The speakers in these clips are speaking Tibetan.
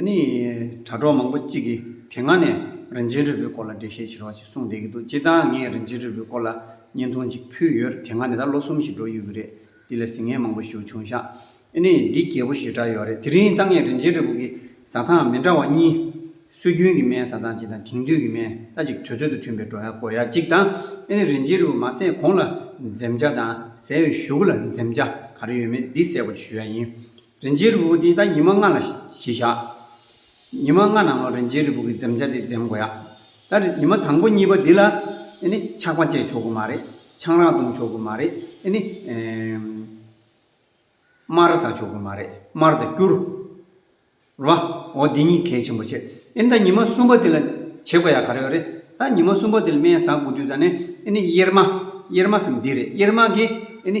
ནི། དྲ་གྲོགས་མང་པོ་གཅིག་གིས་དེ་སྔ་ནས་རིན་ཆེན་རུས་པའི་སྐོར་ལ་འགྲེལ་བཤད་བྱེད་རོགས་ཞེས་གསུངས་བསྡད་ཀྱི་འདུག་སྤྱིར་བཏང་ངས་རིན་ཆེན་རུས་པའི་སྐོར་ལ་བརྙན་ཐུང་གཅིག་ཕུལ་ཡོད་དེ་སྔ་ནས་ད་ལོ་གསུམ་ཞིག་འགྲོ་ཡོད་ཀྱི་རེད། འདི་ལ་ཟིན་ངེས་མང་པོ་ཞུ་བྱུང་ཤག་ཨེ་ནི། འདི་རྒྱས་པོ་ཞེ་དྲག་ཡོད་རེད་དེ་རིང་ད་ངས་རིན་ཆེན་རུས་པ་ཀྱི་ཟ་ཐང་མི་འདྲ་བ་གཉིས། སྲོལ་རྒྱུན་གྱི་སྨན་ཟ་ཐང་གཅིག་དང་དེང་དུས་ཀྱི་སྨན་ད་ཅིག་དུས་ཚོད་དུ་མཐུན་པའི་བྲོ་ཡག་གོ་ཡག་གཅིག་དང་ཨེ་ནི་རིན་ཆེན་རུས་པ་མ་ཟས་གོང་ལ་འཛེམ་བྱ་དང་ཟས་བའི་གཞུག་གུ་ལ་འཛེམ་བྱ་ག་རེ་ཡོད་མེད་འདི་གསལ་པོ་ཞུ་ཡག་ཡིན། རིན་ཆེན་རི་བོ་དེ་ད་ཉི་མ་ལྔ་ལ་གཞི་བཞག། ཉི་མ་ལྔ་ནང་ལོ་རིན་ཆེན་རི་བོ་གི་འཛེམ་བྱ་དེ་འཛེམ་དགོས་ཡ། ད་ཉི་མ་དང་པོ་གཉིས་པ་འདི་ལ་ཨེ་ནི་ཆག་པ་བཅད་ཆོག་གི་མ་རེད། ཆང་རག་བཏུང་ཆོག་གི་མ་རེད། ཨེ་ནི། མར་ཟ་ཆོག་གི་མ་རེད། མར་དང་སྐྱུར། རེད་བ། འོ་འདི་གཉིས་གལ་ཆེན་པོ་བྱེད། ཨེ་ནི་ད་ཉི་མ་གསུམ་པ་དེ་ལ་བྱེད་དགོས་ཡ་ག་རེ་ཡོད་རེད། ད་ཉི་མ་གསུམ་པ་དེ་ལ་སྨན་ཟ་དགོས་དུས་ད་ནི་ཨེ་ནི་གཡེར་མ། གཡེར་མ་ཟེར་ནི་འདི་རེད་གཡེར་མ་གིས་ཨེ་ནི།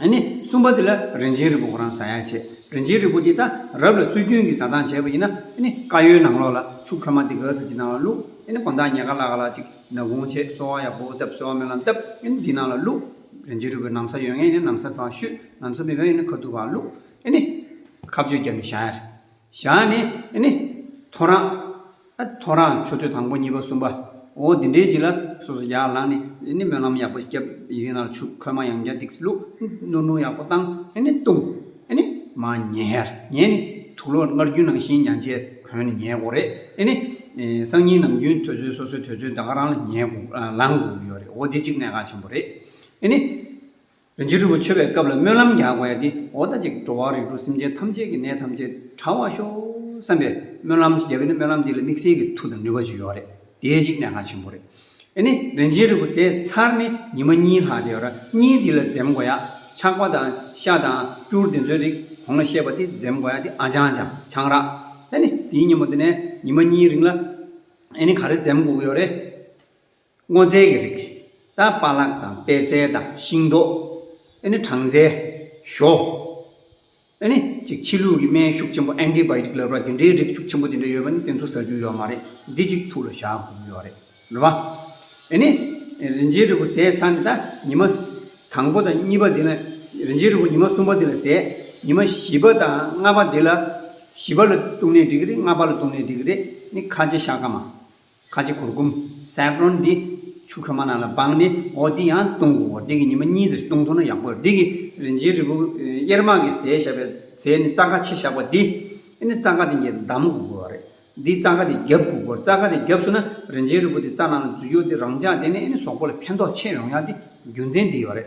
ཨ་ནི་གསུམ་པ་དེ་ལ་རིན་ཆེན་རི་བོ་ཁོ་རང་ཟ་ཡག་བྱེད་རིན་ཆེན་རི་བོ་དེ་ད་རབ་ལ་ཚུལ་ཁྱོན་གྱི་ཟ་སྟངས་བྱས་པ་ཡིན་ན་ཨ་ནི་ཀ་ཡོའི་ནང་ལོགས་ལ་ཕྱུགས་ཁྲོས་མ་དེ་ག་ཚོད་ཅིག་ནང་ལ་བླུགས་ཨ་ནི་གོང་ཐག་ཉེ་ག་ལ་ག་ལ་ཅིག་ནག་གུང་བྱས་གསོ་བ་ཡག་པོ་བཏབ་གསོ་བ་སྨོན་ལམ་བཏབ་ཨ་ནི་དེའི་ནང་ལ་བླུགས་རིན་ཆེན་རི་བོ་ནམ་ཟ་ཡོད་ངེས་ཡིན་ན་ནམ་ཟ་དང་བཤུས་ནམ་ཟ་མི་དགའ་ཡིན་ན་ཁ་ཐུག་ག་ལ་བླུགས་ཨ་ནི་ཁ་བཅོས་བརྒྱབ་ནས་བཞག་ཡ་རེད། ཞག་ནི་ཨེ་ནི། ཐོ་རངས། ཨ་ཐོ་རངས་ཆོས་ཐོས་དང་པོ་གཉིས་པ་གསུམ་པ། འོ་འདི་འདྲའི་ཅིག་ལ་སོ་སོ་ཡར་ལངས་ནས་ཨེ་ནི་སྨོན་ལམ་ཡག་པོ་བརྒྱབ་ཡིད་སྣང་ལ་ཆུག་ཁོལ་མ་ཡང་བརྒྱ་སྡིགས་སེ་ལུག་ནུར་ནུར་ཡག་པོ་བཏང་ཨེ་ནི་བཏུང་ཨེ་ནི། མ་ཉལ་ཡར་ཉལ་ནི་དུག་ལོག་སྔར་རྒྱུན་ནང་བཞིན་མྱང་བྱའི་གོན་ནས་ཉལ་དགོས་རེད་ཨེ་ནི། སང་ཉིན་ནམ་རྒྱུན་ཐོས་ཚོད་སོ་སོའི་ཐོས་ཚོད་ད་ག་རང་ལ་ཉལ་དགོས་ལངས་དགོས་ཀྱི་ཡོད་རེད་འོ་འདི་ཅིག་གནད་འགག་ཆེན་པོ་རེད་ཨེ་ནི། རིན་ཆེན་དྲུག་པོ་མཆོད་པའི་སྐབས་ལ་སྨོན་ལམ་རྒྱག་དགོས་ཡ་དེ་འོ་ད་ཅིག་འགྲོ་བ་རིགས་དྲུག་སེམས་ཅན་ཐམས་ཅད་ཀྱི་ནད་ཐམས་ཅད་དྲ་བར་ཤོག་བསམ་པའི་སྨོན་ལམ་ཞིག་རྒྱབ་ཡིན་ན་སྨོན་ལམ་འདི་ལ་དམིགས་བསལ་གྱི་མཐུ་དང་ནུས་པ་ཅིག་ཡོད་རེད་དེའི་ཅིག་གནད་འགག་ཆེན་པོ་རེད། ཨེ་ནི་རིན་ཆེན་དྲུག་པོ་ཟས་ཚར་ནི་ཉི་མ་གཉིས་ལྷག་དེ་ཡོད་ར་གཉིས་དེ་ལ་འཛེམ་དགོས་ཡ་ཆག་པ་དང་ཤ་དང་སྐྱུར་དེ་ཚོའི་རིགས་གོང་ལ་བཤད་པ་དེ་འཛེམ་དགོས་ཡ་དེ་ཨ་ཅང་ཅང་ཆང་རག་ཨེ་ནི་དེའི་ཉིན་མོ་དེ་ནས་ཉི་མ་གཉིས་རིང་ལ་ཨེ་ནི་ག་རེ་འཛེམ་དགོས་ཀྱི་ཡོད་རེད། སྔོ་ཚལ་གྱི་རིགས། ད་པ་ལག་དང་པད་ཚལ་དང་ཤིང་ཏོག། ཨེ་ནི་གྲང་ཚལ། ཞོ། ཨེ་ནི། ཅིག་ཕྱི་ལུགས་ཀྱི་སྨན་ཤུགས་ཆེན་པོ Antibiotic ལབ་ར་འདི་འདྲའི་རིགས་ཤུགས་ཆེན་པོ་འདི་འདྲ་ཡོད་པ་ནི་དེ་ཚོ་ཟ་རྒྱུ་ཡོད་མ་རེད་འདི་ཅིག་ཐུགས་ལ་བཞག་དགོས་ཀྱི་ཡོད་རེད་རེད་བ། ཨེ་ནི། རིན་ཆེན་རིལ་བུ་ཟས་ཚར་ནས་ད་ཉི་མ། དང་པོ་དང་གཉིས་པ་འདི་ལ། རིན་ཆེན་རིལ་བུ་ཉི་མ་གསུམ་པ་འདི་ལ་ཟས། ཉི་མ་བཞི་པ་དང་ལྔ་པ་འདི་ལ། བཞི་པ་ལ་བཏུང་ནས་འགྲིག་གི་རེད་ལྔ་པ་ལ་བཏུང་ནས་འགྲིག་གི་རེད་ནི་ཁ་ལྕེ་ཤ་ཀ་མ། ཁ་ཆེ་གུར་གུམ། Saffron། འདི་ཆུ་ཁོལ་མ་རྣམས་ལ་སྦངས་ནས་འོ་འདི་ཡང་བཏུང་གོ་འོ་འདི་གི་ཉི་མ་གཉིས་ཙམ་བཏུང་ཐུབ་ན་ཡག་པོ་རེད་འདི་གི་རིན་ཆེན་རིལ་བུ་གཡེར་དམར་གྱི་ཟས་བཞག་པའི་རྫས་ནི་རྩ་ཁ་ཕྱེ་བཞག་པ་འདི་ནི་རྩ་ཁ་དེ་འགྱེལ་བསྡམ་གོ་དགོས་བ་རེད་འདི་རྩ་ཁ་དེ་རྒྱབ་གོ་དགོས་རྩ་ཁ་དེ་རྒྱབ་སོང་ན་རིན་ཆེན་རིལ་བུ་དེ་རྩ་ནང་ལ་འཛུལ་ཡོང་སྟེ་རང་ཅག་དེ་ནས་ནི་ཟོག་པོ་ལ་ཕན་ཐོག་ཆེ་ཡོང་ཡག་འདི་རྒྱུ་མཚན་འདི་ཡོད་རེད་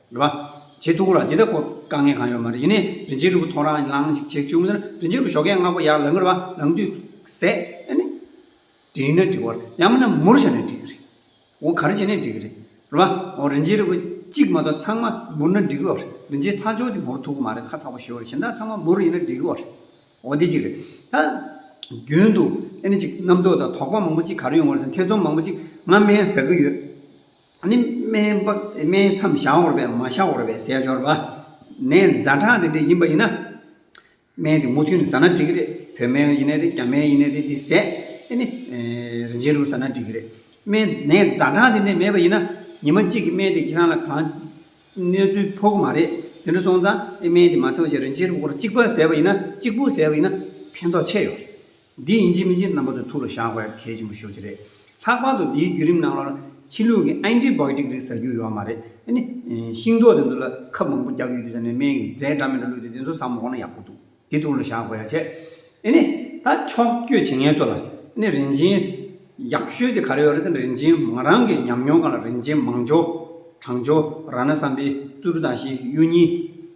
རེད་པ། བྱེད་ཐུག་ལ་འདི་ལྟ་སྐོར་དཀའ་ངལ་གང་ཡོད་མ་རེད་ཡིན་ནའི་རིན་ཆེན་ཕྲུ་གུ་ཐོ་རངས་ལངས་ཤིག་བྱེད་བཅུག་མོད་ན་རིན་ཆེན་ཕྲུ་གུ་ཞོགས་ཀན་སྔ་པོ་ཡར་ལངས་གི་རེད་པ་ལངས་དུས་ཟད་ཨེ་ནི། འགྲིག་ན་འགྲིག་བར་ཡང་མིན་ན་མུར་བཞག་ནས་འགྲིག་གི་རེད། འོ་ག་རེ་བྱས་ནས་འགྲིག་གི་རེད། རེད་པ། འོ་རིན་ཆེན་རེད་བ། གཅིག་མ་གཏོགས་ཚང་མ་མུར་ན་འགྲིག་གི་རེད། རིན་ཆེན་ཚ་ཆོག་དེ་མུར་ཐུག་གི་མ་རེད་ཁ་ཚ་བོ་ཞེ་བོ་རེད་གཞན་དག་ཚང་མ་མུར་ཡིན་ན་འགྲིག་གི་རེད། འོ་འདི་གཅིག་རེད། ད། རྒྱུན་དུ་ཨེ་ནི་གཅིག་རྣམ་རྟོག་དང་དོགས་པ་མང་པོ་གཅིག་ག་རེ་ཡོང་བ་རེད་ཟེར་ན་ཐེ་ཚོམ་མང་པོ་གཅིག་ང་དམན་ཟ་གི་ཡོད། ནི། སྨན་མཚམས་བྱ་བོར་བས་མ་བྱ་བོར་བའི་ཟས་སྦྱོར་བ། ནས་རྫ་ཁྲག་དེ་འདྲས་ཡིན་པ་ཡིན་ན། སྨན་དེ་མུ་མཐུད་ནས་ཟ་ན་འགྲིག་གི་རེད། བོད་སྨན་ཡིན་ན་རེད་རྒྱ་སྨན་ཡིན་ན་རེད་དེ་ཟས། ཨེ་ནི། རིན་ཆེན་རུ་ཟ་ན་འགྲིག་གི་རེད། སྨན་ནས་རྫ་ཁྲག་དེ་འདྲས་མེད་པ་ཡིན་ན། ཉི་མ་གཅིག་གི་སྨན་དེ་ཁྱེད་རང་ལ་གང། གནོད་འཚེ་ཕོག་གི་མ་རེད། དེ་འདྲ་སོང་ཙང། ཨེ་སྨན་དེ་མ་ཟ་བར་ཆད་རིན་ཆེན་རུ་སྒོར་གཅིག་པ་ཟས་པ་ཡིན་ན། གཅིག་པུ་ཟས་པ་ཡིན་ན། ཕན་ཐོགས་ཆེ་ཡོད་རེད། འདི་ཡིན་གཅིག་མིན་གཅིག་རྣམ་པ་ཚོའི་ཐུགས་ལ་བཞག་པ་གལ་ཆེན་པོ་ཤོས་ཅིག་རེད། ལྷག་པར་དུ་འདིའི་བརྒྱུད་རིམ་ནང་ལ་ཕྱི་ལུགས་ཀྱི་ཨན་ཏི་བྷའོ་ཏིག་རིགས་ཟ་རྒྱུ་ཡོད་མ་རེད། དེ་ནི། ཤིང་ཏོག་དེ་ཚོ་ལ་ཁབ་མང་པོ་རྒྱག་རྒྱུ་ཡོད་ས་ནས་སྨན་ཡིན་རྫས་འདྲ་མིན་འདྲ་བླུགས་ཏེ་དེ་ཚོ་ཟ་མ་གོ་ན་ཡག་པོ་འདུག་འདི་ཐུགས་ལ་བཞག་དགོས་ཡ་ཆེ། དེ་ནི། ད་ཕྱོགས་བསྐྱོད་བྱེད་མཁན་ཚོ་ལ། དེ་ནི་རིན་ཆེན། ཡག་ཤོས་དེ་ག་རེ་ཡོད་རེད་ཙང་རིན་ཆེན་ང་རང་གི་ཉམས་མྱོང་གང་ལ་རིན་ཆེན་མང་ཇོ། བྲང་ཇོ། ར་ན་བསམ་པའི། ཙུ་རུ་དང་བཞི་གཡུ་གཉིས།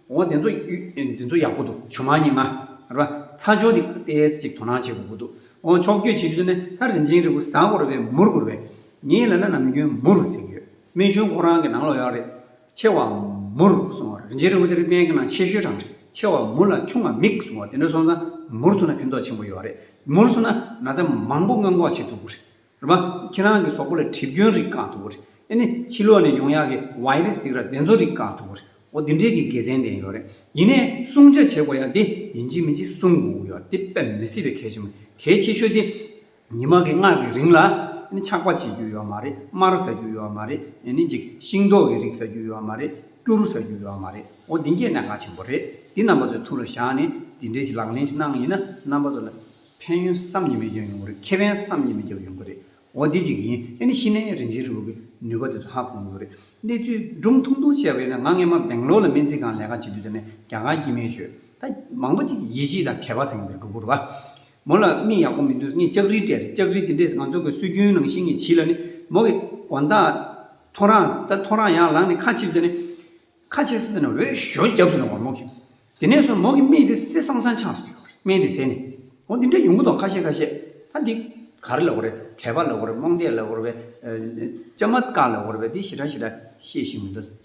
འོ་དེ་ཚོ་དེ་ཚོ་ཡག་པོ་འདུག་ཇོ་མང་གཉིས་ལྔ། རེད་པ། ཚ་ཇོ་དེ་དཔེ་ཅིག་དོ་སྣང་བྱེད་དགོས་པོ་འདུག་འོ་ཕྱོགས་བསྐྱོད་བྱེད་རྒྱུ་དེ་ནི་ད་རིན་ཆེན་རིལ་བུ་བཟང་བོ་རེད་པས་མུར་གུར་བས། ངས་ལབ་ན་ནམ་རྒྱུན་མུར་ཟེར་གྱི་ཡོད། རྨད་བྱུང་ཁོ་རང་གི་ནང་ལོགས་ཡོད་རེད། ཆེ་བ་མུར་སོང་བ་རེད་འཇིགས་རུང་དེ་རིགས་སྨན་གྱི་ནང་ཆེ་ཤོས་གྲངས་རེད་ཆེ་བ་མུར་ལ་ཆུང་བ་མིག་སོང་བ་དེ་འདྲ་སོང་ཙང་མུར་ཐུག་ན་ཕན་ཐོགས་ཆེན་པོ་ཡོད་རེད་མུར་སོང་ན་ན་ཚ་མང་པོ་སྔོན་འགོག་བྱེད་ཐུབ་རེད་མ་ཁྱེད་རང་གི་ཟོག་པོ་ལ་གྲིབ་སྐྱོན་རིགས་བཀག་ཐུབ་རེད་ཨེ་ནས་ཕྱི་ལོགས་ནས་ཡོང་ཡག་གི་བའི་རིགས་ཟིག་ར་དེ་ཚོ་རིགས་བཀག་ཐུབ་རེད་འོ་དེ་འདྲས་ཀྱི་དགེ་མཚན་ལྡན་ཡོད་རེད་ཡིན་ནས་སྲུང་བྱ་བྱེད་དགོས་ཡག་དེ་ཡིན་གཅིག་མིན་གཅིག་སྲུང་དགོས་ཡོད་དེ་དཔེ་མི་སྲིད་པའི་གལ་ཆེན་པོ་གལ་ཆེ་ཤོས་དེ། ཉི་མ་གི་སྔགས་ཀྱི་རིང་ལ། ཆགས་པ་བྱེད་རྒྱུ་ཡོད་མ་རེད་དམར་ཟ་རྒྱུ་ཡོད་མ་རེད་ནི་འཇིག་ཤིང་མདོག་གི་རིགས་ཟ་རྒྱུ་ཡོད་མ་རེད་སྐྱུར་ཟ་རྒྱུ་ཡོད་མ་རེད་འོ་འདི་འགྱེལ་ན་དགའ་ཆེན་པོ་རེད་འདི་རྣམ་པ་ཚོའི་ཐུགས་ལ་བཞག་ནས་འདི་འདྲའི་ཞིག་ལག་ལེན་ཞིག་གནང་ཡིན་ན་རྣམ་པ་ཚོ་ལ་ཕན་ཡོན་བསམ་གྱིས་མི་ཁྱབ་ཡོང་གི་རེད་ཁེ་ཕན་བསམ་གྱིས་མི་ཁྱབ་ཡོང་གི་རེད་འོ་འདི་ཅིག་ཡིན་ནི་ཤི་ནས་རིན་ཆེན་རི་བོ་གི་ནུས་པ་དེ་ཚོ་ཧ་གོ་གི་རེད་གནས་ཚུལ་སྒྲུང་ཐུང་ཐུང་བཤད་པ་ཡིན་ན་ང་སྔན་མ་སྦེང་ལོར་ལ་སྨན་རྩིས་ཁང་ལས་ཀ་བྱེད་དུས་དེ་ནས་རྒྱ་གར་གྱི་སྨན་ཤོད་ད་མང་པོ་ཅིག་གི་ཡིད་ཆེས་དང་གལ་བ་ཟིན་གི་འདུག་འགུར་བ་མོ་ལ་མིག་ཡག་པོ་མི་འདུག་ངས་ལྕགས་རི་སྤྲད། ལྕགས་རི་དེ་འདྲས་ང་ཚོ་གི་སྲོལ་རྒྱུན་ནང་བཞིན་ངས་བྱིས་ལ་ནི། མོ་གི། གོ་མདའ། ཐོ་རངས། ད་ཐོ་རངས་ཡག་ལངས་ནས་ཁ་ཕྱིས་བཟོས་ནས། ཁ་ཕྱིས་བཟོས་ནས་འོད་ཞོ་རྒྱབ་བཟོས་ནས་བར་མོ་གི། དེ་ནས་བཟུང་མོ་གི་མིག་དེ་སེ་སང་སང་ཆགས་སོ། མིག་དེ་ཟད་ནས། འོ་འདི་འདྲའི་ཡོང་གི་འདུག་ཁ་ཤས་ཁ་ཤས། ད་འདི། ག་རེ་ལ་གོ་རེ། དད་པ་ལ་གོ་རེ་རྨོངས་དད་ལ་གོ་རེ། བཅའ་མ་དཀར་ལ་གོ་རེ་བས་འདི་ཞེ་དྲག་ཞེ་དྲག་བཤད་བཞིན་མི་འདུག།